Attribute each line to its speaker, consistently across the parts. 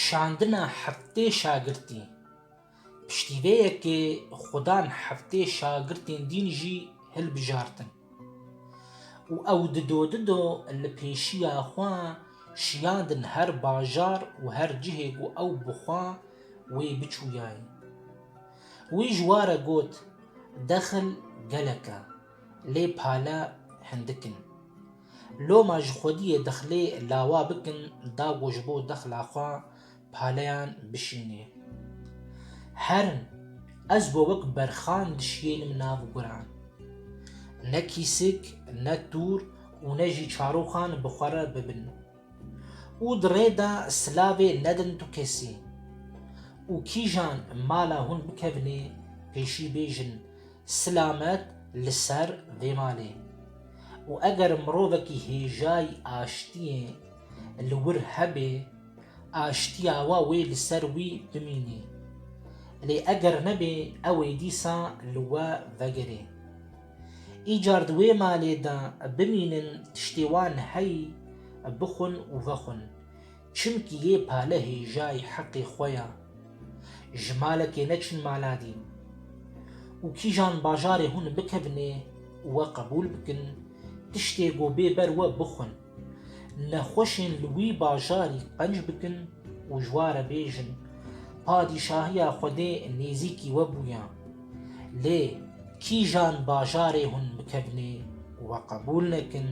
Speaker 1: Şandina heftê şagirtî piştîveyekê xudan heftê şagirtên dîn jî hilbijartin û ew dido dido li pêşiya xwe şiyandin her bajar û her cihê ku ew bi xwe wê biçûyayê. Wî ji ware got, Dexil gelek e. Lê pale hindik in. Loma ji xwediyê dexlê lawa bikin dago ji bo dexla xwe paleyan bişînê. Herin, ez bo wek berxan dişiyênim nav guran. Ne kîsik, ne tûr û ne jî çaroxan bi xwe re bibin. Û di rê de silavê nedin tu kesî. Û kîjan mala hûn bikevinê pêşî bêjin Silamet li ser vê malê û eger mirovekî hêjayî aştiyê li wir hebê, aştiya we wê li ser wî bimînê. Lê eger nebê ew ê dîsa li we vegerê. Îcar di wê malê de bimînin tiştê wan heyî bixwin û vexwin. Çimkî yê pale hêjayî heqê xwe ya. Ji malekê neçin maladîn. Û kîjan bajarê hûn bikevnê û we qebûl bikin, tiştê ku bê ber we bixwin. Nexweşên li wî bajarî qenc bikin û ji wa re bêjin, Padîşahiya Xwedê nêzîkî we bûya. Lê kîjan bajarê hûn bikevnê û we qebûl nekin,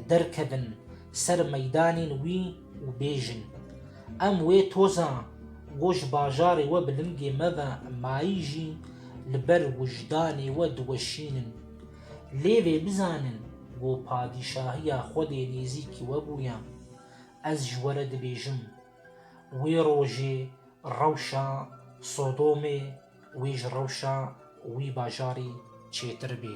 Speaker 1: derkevin ser meydanên wî û bêjin, Em wê toza ku ji bajarê we bi lingê me ve mayî jî li ber wijdanê we diweşînin. Lê vê bizanin ku padîşahiya Xwedê nêzîkî we bûye. Ez ji we re dibêjim, wê rojê rewşa Sodomê wê ji rewşa wî bajarî çêtir bê.